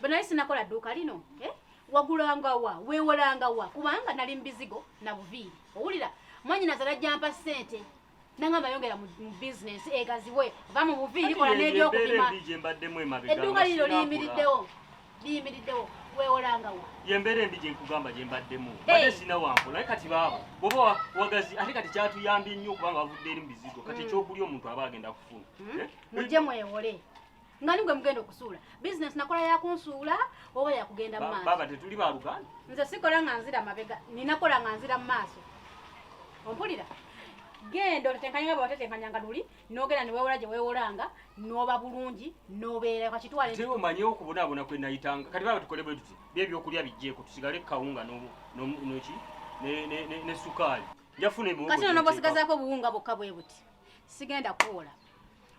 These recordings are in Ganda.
banaye sinakola dduuka lino eh? wagulanga wa wewolanga wa kubanga nali mubizigo na buviiri owulira mwanyinaza najjampa ssente nangamba yongera mu bizinesi egaziwe eh, va mu buviiri kola n'ebyokupima edduuka lino liyimiriddewo liyimiriddewo wewolangawo yembeera embi gyenkugamba gyembaddemu ate sina wankola naye kati baaba bwoba wagazi ate kati kyatuyambye nnyo okubanga bavudde eri mu bizigo kati hmm. ekyokulya omuntu aba agenda kufuna hmm? eh? mujje mwewole nga nigwe mugenda okusuula bizinesi nakola yakunsuula oba yakugenda mu maaso baba tetuli ba luganda nze sikola nga nzira mabega ninakola nga nzira mu maaso ompulira genda otetenkanya nga bwewatetenkanya nga luli nogenda newewola gye wewolanga noba bulungi nobeera kakitwale nti omanyi okubonaabona kwe nayitanga kati baba tukole bwe tuti byebyokulya bijjeeko tusigale kawunga noki ne sukaali njafuna kati nonobosigazaako obuwunga bwokka bwe buti sigenda kuwola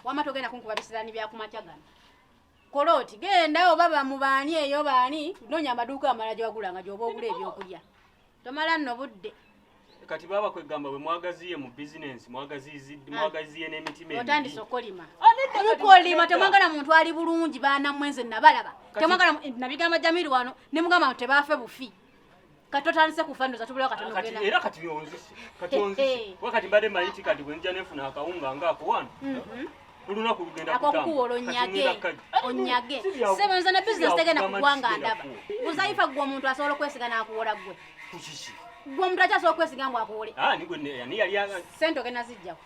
wama togenda kunkuba bisirani byakumakya gano kola oti genda oba bamubaani eyo baani nonya amaduuka amala gyewagula nga gyoba ogula ebyokulya tomala nno budde kati baba kwegamba bwe mwagaziye mu bizinensi mwagaziye n'emitima otandise okolima mukolima temwagala muntu ali bulungi baana mwenze nabalaba temwagala nabigamba jamiru wano ne mugamba nti tebaafe bufi kati otandise kufa ndoza tubulawo kati nogenda era kati byonzise kati onzise wakati mbadde manyi ti kati bwenja nefuna akawunga nga ako wano mhm. olunaku lugenda akokukuwola onyage onyage sebo nze ne bizinesi tegenda kugwanga ndaba uzaifa gwe omuntu asobola okwesiga nakuwola gwe kukiki gwe omuntu akyasobola okwesiga ngu akuwole ah, sente ogenda zijjako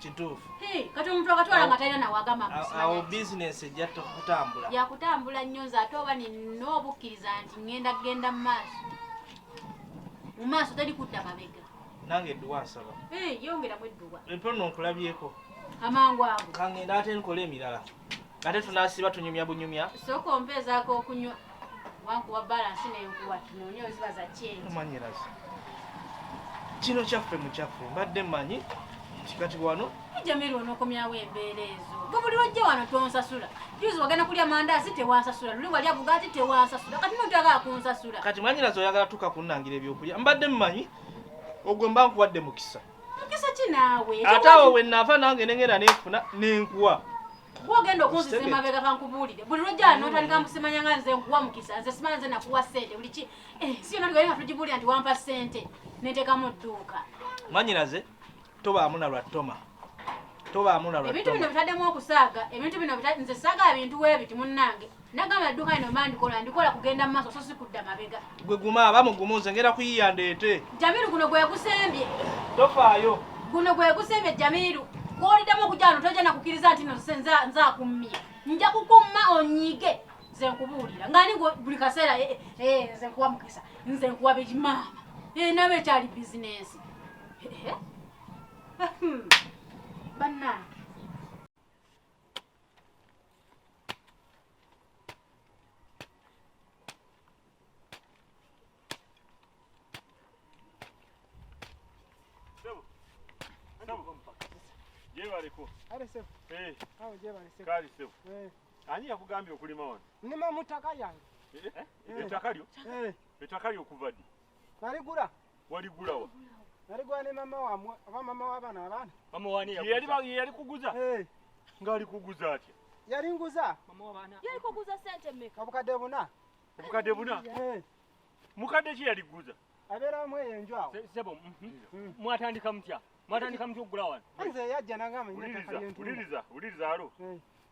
kituufu kati omuntu akatwala nga talina nawagamba awo bizinesi ejja kutambula yakutambula nnyo nze ate oba nina obukkiriza nti ŋŋenda kugenda mu maaso mu maaso teri kudda mabega nange edduwa nsaba yongeramu edduwa empono nkulabyeko amangu ago kangenda ate nkola emirala ate tunasiba tunyumya bunyumya sooka ompeezaako okunywa wankuwa balansi nenkuwa tunoonye oziba za kyengi omanyirazi kino kyaffe mukyaffe mbadde manyi nti kati wano jamiru onokomyawo embeera ezo gwe buli lwojja wano tonsasula juzi wagenda kulya mandaasi tewansasula luli walya bugaati tewansasula kati notagala kunsasula kati mwanyinazi oyagala tuka kunnangira ebyokulya mbadde mmanyi ogwe mba nkuwadde mukisa mukisa ki naawe ate awo we nnaava nange nengenda nenfuna nenkuwa gwogenda okunziza emabega kankubuulire buli lwojjaa notandika musimanya nga nze nkuwa mukisa nze simanya nze nakuwa sente buli ki eh, si yona tugaye nga tugibuulira nti wampa sente nentekamu dduuka mwanyinaze tobaamu na lwa toma tobaamu na lwa ebintu bino bitaddemu okusaaga ebintu bino nze saaga ebintu weebiti munnange Nagamba dduka lino mba ndikola ndikola kugenda mu maaso so si kudda mabega. Gwe guma aba mugumu nze ngenda kuyiya ndeete. Jamiru guno gwe gusembye. Tofaayo. Guno gwe gusembye Jamiru. Gw'oliddamu okujja wano tojja na kukkiriza nti no nze nze akummye. Nja kukumma onyiige nze nkubuulira nga ni buli kaseera eh, eh, eh, nze nkuwa mukisa nze nkuwa bimaama nabo ekyali bizinensi hmm. bannange Jebaliko. Ale sebo. Eh. Awo jebale sebo. Kali sebo. Eh. Ani yakugambye okulima wano? Nima mutaka yange. Eh? eh? eh. Ettaka lyo? Eh. Ettaka lyo kuva ddi? Naligula. waligulawa naligwa ne mama wamwe oba mama wabana abana mama wani yali kuguza eh. ngali kuguza atya yali nguza mama wabana yali kuguza sente mmeka obukadde buna obukadde buna eh. mukadde ki yali kuguza abeera wamu eyo enju awo sebo mhm. mm. mwatandika mutya mwatandika mutya okugula wano nze yajja nangamba uliriza uliriza alo eh.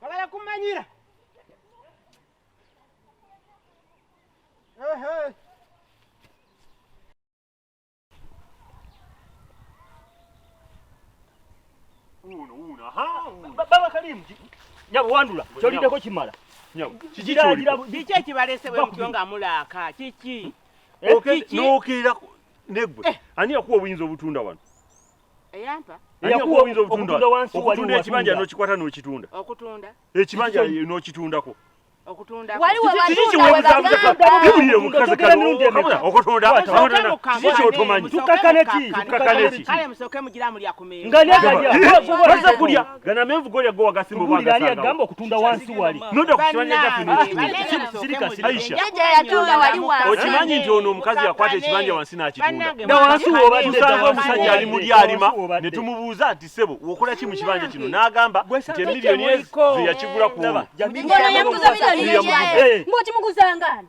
bagala kumanyira baba kalimu nyabo wandula kyolideko kimala kiki ekibalese bwemutyo nga mulaaka kiki nokirira negwe eh. ani yakuwa obuyinza obutunda wano eyampa yakuwa obuyinza obutunda wansi okutunda ekibanja nokikwata nokitunda okutunda ekibanja nokitundako okutunda Gana mevu goli agowa gasimbo bwa gasanga. Kubuli agamba okutunda wansi wali. Noda kushwanya jafi ni. Sirika sirika. Aisha. Yaje yatunda wali wansi. Okimanyi nti ono omukazi yakwata ekibanja wansi na kitunda. Na wansi wo bali kusanga omusajja ali muli alima ne tumubuuza nti sebo wokola ki mu kibanja kino n'agamba nti emilioni ezo yakigula kuona. Ngono yamuguza milioni ezo. Mboti muguzangani.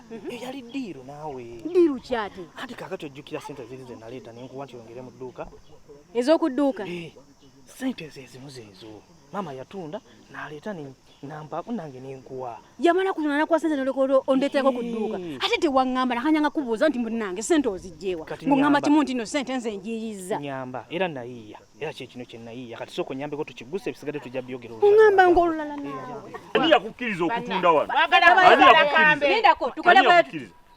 Mhm. eyo yali diiru naawe diiru kyate anti kakati ojjukira sente ziri ze naleeta nenkuwa nti ongere mu dduuka ez'okudduuka eh, sente ezo ezimu zeezo maama yatunda naleeta nampaako nange nenkuwa yamala kutunda nakuwa sente nolekolo ondeterako ku dduuka eh. ate tewaŋŋamba nakanyanga kubuuza nti munange sente ozijjeewa ng'oŋŋamba kimu nti no sente nze njiyiza nyamba era nayiiya era kye kino kyenayiiya kati sooka onyambeko tukiguse ebisigadde tujja byogera oŋamba nga olulala ani yakukkiriza okutunda wano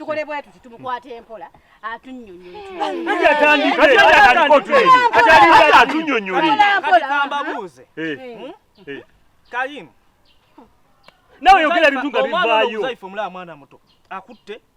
tukole bwe tuti tumukwata empola atunyonyoleatunyonyoleambuuze eh, hmm? eh. kalimu nawe yogera bintu nga bivaayo omwana muto akutte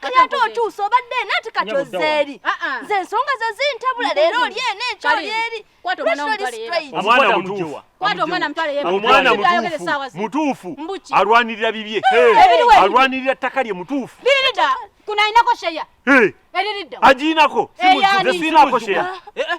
kati ate otuusa obadde eno ati kati ozeeri ah, ah. nze ensonga ze zintabula leero oli eno ekyo oli eri mutuufu alwanirira bibye alwanirira ttaka lye mutuufu kunainako sheya eriridda agiinako eh, nze siinako sheya eh, eh.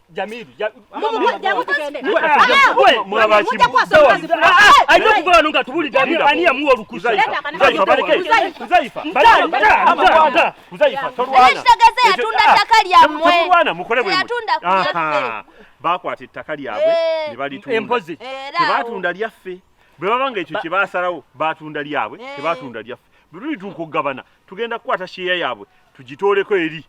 Jamiru, alina tubulidde ani yamuwa olukusa bakwata ettaka lyabwe ne balitunda tebatunda lyaffe bwe baba nga ekyo kye basalawo batunda lyabwe tebatunda lyaffe bwe tulituuka okugabana tugenda kukwata sheeya yaabwe tugitooleko eri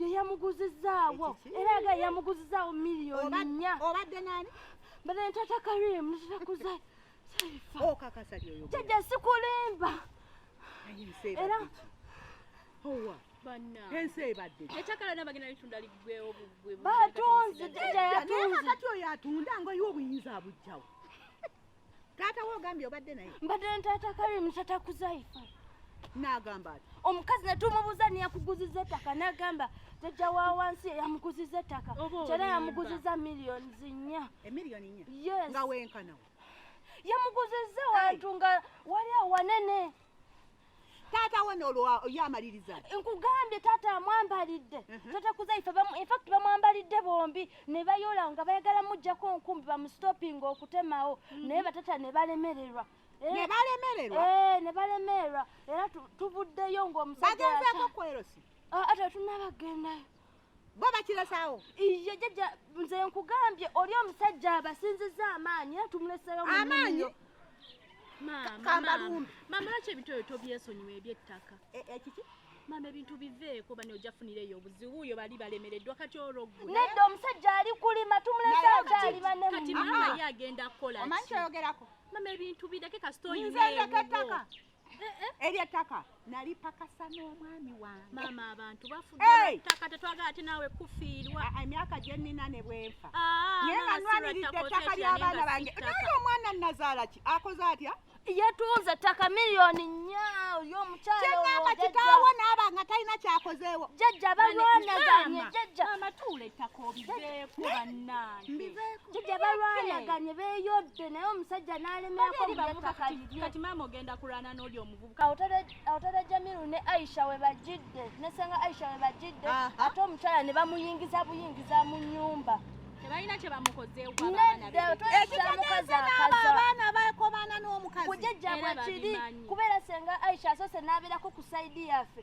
yeyamuguzizaawo era aga yamuguzizaawo miliyoni nnya obadde nani mbadde ntata karimu nzitakuza oh, jajja sikulimba era ensi ebadde ekyakala nabagenda litunda ligwewo bugwe batunzi jajja yatunzi kati oyo atunda nga oyo obuyinza abujjawo Taata wo ogambye obadde naye? Mbadde na taata Karim taata Kuzaifa. N'agamba ati omukazi ne tumubuuza niyakuguziza ettaka n'agamba jajja wa wansi eyamuguziza ettaka kyera yamuguziza miliyoni nnya. Emiliyoni nnya? Yes. Nga wenkana we. Yamuguziza wantu nga wali awanene. taata we nolwoyo amaliriza nkugambye taata amwambalidde mhm. taata kuzaife infact bamwambalidde bombi ne bayola nga bayagala mujjako nkumbi bamustopping okutemawo mhm. naye batata ne balemererwa eh, ne balemererwa eh, ne balemererwa era tuvuddeyo ng'omusajja bagenzeeko kwerosi ah, ate tunabagendayo bo bakiresawo iye jajja nze nkugambye oli omusajja abasinziza amaanyi era tumuleseyo amaanyi kambalumbi mama lwaki ebitoyo tobyesonyiwa ebyettaka e, e, kiki mama ebintu biveeko bani ojafunira eyo obuzibu oyo bali balemereddwa kati olwogwe nedda omusajja ali kulima tumuleseyo kyalima nemkati mama ye agenda kukola omanyi kyoyogerako mama ebintu bireke kasita oyina eyo eryo ettaka nalipakasa n'omwami wange maama abantu bafudettaka tetwagala ate naawe kufiirwa ah, emyaka gye nnina ne bwenfa ah, naye nga nwaniridde ettaka ly'abaana bange naye omwana nnazaala ki akoze atya yetuunze ettaka miliyoni nnya oli omukyala kyengamba kitaawo naaba nga talina kyakozeewo jajja balwanaganye jajja amatuula ettaka obiveeko bannange mbiveeko Jija balwanaganye beyodde naye omusajja n'alemerako kati maama ogenda kulwana n'oli omuvubuka awotera jamiru ne aisha we bajjidde ne senga aisha we bajjidde ate omukyala ne bamuyingiza buyingiza mu nnyumba tebalina kye bamukozeewoabaana bakomana n'omukazi kujejjabwe kiri kubeera senga aisha asoose n'abeerako ku saidi yaffe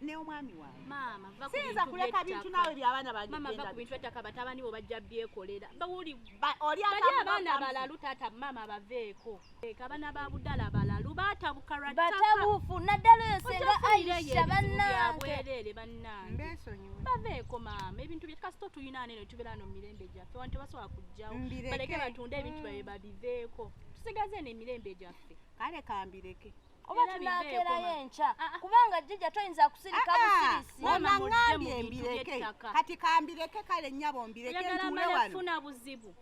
ne omwami wange maama va ku sinza kuleka bintu nawe by'abaana bange maama va ku bintu by'ettaka batabani bo bajja byekolera bawuli oli abaana balalu taata maama baveeko eka abaana ba budala balalu batabuka lwa ttaka batabufu naddala oyo senga ayisha bannange bannange baveeko maama ebintu bye kasita otuyina ane ne tubeera no mu mirembe gyaffe wantu basobola kujjawo baleke batunde ebintu mm. byabe babiveeko tusigaze eno emirembe gyaffe kale kambireke oba tunakeerayo enkya ah, ah. kubanga jjija toyinza kusirika ah, busirisiangambye mbireke kati kambireke kale nnyabo mbireke ntuule wano buzibu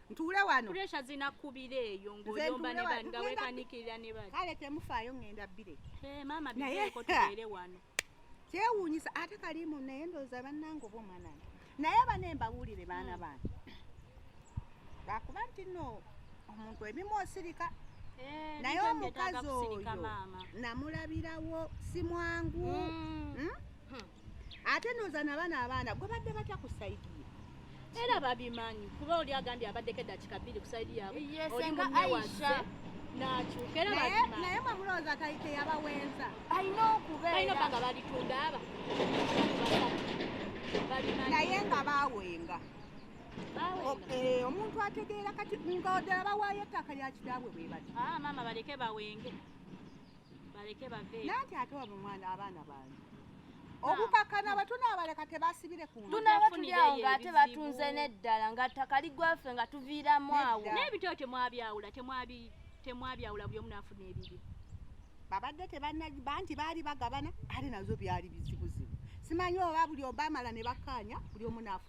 ntuule wano puresha zinakubira eyo ng'oyomba ne bani nga weekanikirira ne bani kale temufaayo ng'enda bbire maama bizeeko tubeere wano kyewuunyisa ate kalimu naye ndooza bannange oba omwana nge naye bane mbawulire baana hmm. bange lwakuba nti no omuntu ebimu osirika eh, naye omukazi oyo namulabirawo si mwangu hmm. Hmm? ate ndooza nabaana abaana gwe badde batya ku saidi era babimanyi kuba oli agambye abaddeko eddakika bbiri ku saidi yaabwe oli munewaze nakyuka era naye mwemulowooza tayite yabawenza alina okubeera baga balitunda aba naye nga bawenga eh, omuntu ategeera kati ngaodala bawaayo ettaka lya kitaabwe bwe bati ah, maama baleke bawenge baleke bave nanti ate waba mwana abaana bange obukakana abatunaabaleka tebasibire ku tunaaba tulyawo ng'ate batunze n'eddala nga ttaka ligwaffe nga tuviiramu awo n'ebityo temwabyawula temwabyawula buli omu naafuna ebibye babadde tebanaba nti baali bagabana ate nazo byali bizibuzibu simanyi oba buli obamala ne bakkaanya buli omu naafuna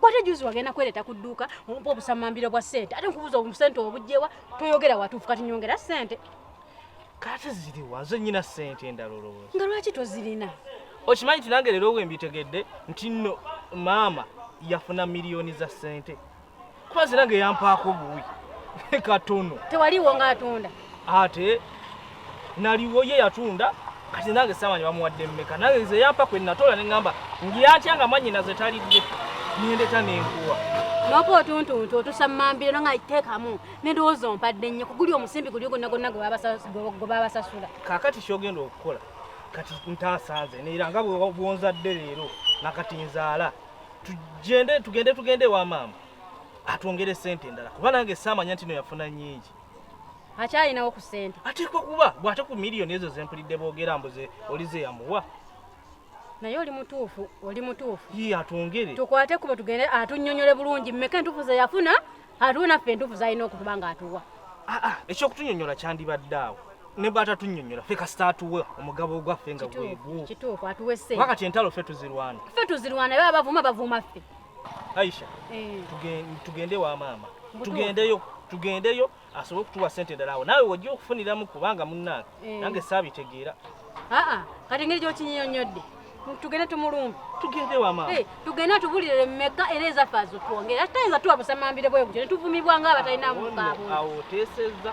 bwate juzi wagenda kwereta ku dduuka ompa obusamambiro bwa sente ate nkubuuza obusente obujjewa toyogera watuufu kati nyongera sente kati ziriwa nze nyina sente endala olowooza nga lwaki tozirina okimanyi nti nange leero wembitegedde nti no maama yafuna miliyoni za sente kuba zirange yampaako buwi katono tewaliwo ngaatunda ate naliwo ye yatunda kati nange samanya bamuwadde mmeka nange nze yampa kwe natola ne ŋŋamba ngiyatya nga mwanyina ze talidde nendeta nenkuwa noka otuntuntu otusammambira no nga teekamu nendowooza ompadde nnyo kuguli omusimbi guli gonna gonna gwe babasasula kakati kyogenda okukola kati ntasanze neera nga bwonzadde leero nakati nzaala tugende tugende tugende ewa maama atwongere sente endala kuba nange saamanya ntino yafuna nyingi akyalinawo ku sente ateekwa kuba bw'ate ku miliyoni ezo zempulidde boogera mbuze olize yamuwa naye oli mutuufu oli mutuufu ye atwongere tukwate kubo tugende atunyonyole bulungi mmeka entuufu ze yafuna atuwe naffe entuufu zalina okutuba nga atuwa ah, ah, ekyokutunyonyola kyandibadde awo ne batatunyonyola ffe kasita atuwe omugabo ogwaffe nga gwegwo wakati entalo ffe tuzirwana ffe tuzirwana eba bavuma bavuma ffe Aisha, eh. tugende wa maama, tugendeyo tugendeyo asobole okutuwa sente endala awo naawe wojja okufuniramu kubanga munnange eh. nange saabitegeera. Aa kati ngeri gyokinyonyodde tugende tumulumbe tugende wama hey, eh, tugende atubulire meka era ezaffe azitwongere atayinza tuwa busamambire bwebuti netuvumibwa nga abatalina mukaabo awo oteseza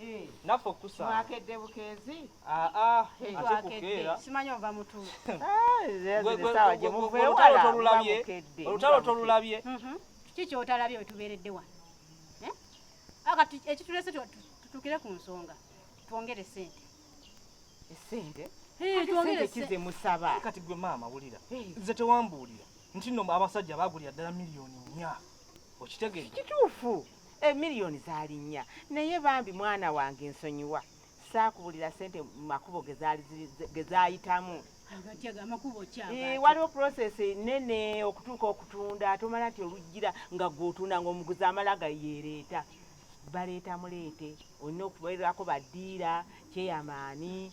Eh. naffe okusa mwakedde bukeezi ah, ah, simanyi ova mutuolutalo tolulabye mhm. kiki kyotalabye wetubeeredde wano eh? akati ah, ekitulese tutukire ku nsonga twongere sente esente kize musaba kati gwe maama wulira nze tewambuulira nti no abasajja bagulira ddala miliyoni nya okitegeera kituufu emiliyoni zaali nnya naye bambi mwana wange nsonyiwa saakubulira sente mu makubo ge zaayitamu waliwo process nene okutuuka okutunda tomala nti oluggira nga gwotunda nga omuguzi amala gayeereeta baleeta muleete olina okubeerako badiira kyeyamaani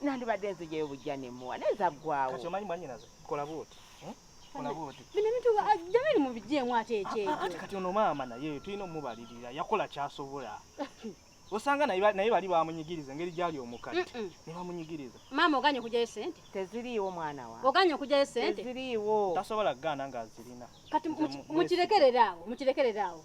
nandibadde nzijeyo bujja nemuwa naye zaggwawo kati omanyi mwanyinaze kola bwoti hmm? bino bintu jamani mubijeemu ate ekyeekyo ah, ah, kati ono maama naye tulina omubalirira yakola kyasobola osanga naye bali bamunyigiriza engeri gyali omukadde ne bamunyigiriza maama oganye okujayo sente teziriiwo mwana wa oganye okujayo sente teziriiwo tasobola kugaana ng'azirina kati mukirekereraawo mukirekereraawo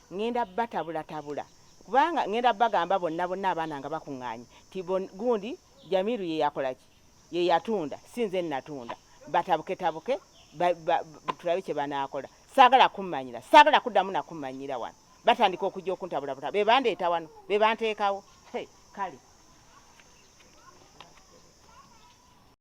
ŋŋenda batabulatabula kubanga ŋŋenda bagamba bonna bonna abaana nga bakuŋŋaanye ti gundi jamiru ye yakola ki ye yatunda si nze natunda batabuketabuke tulabe kye banaakola saagala kummanyira saagala kuddamu nakummanyira wano batandika okujja okuntabulabuta be bandeeta wano be banteekawo kale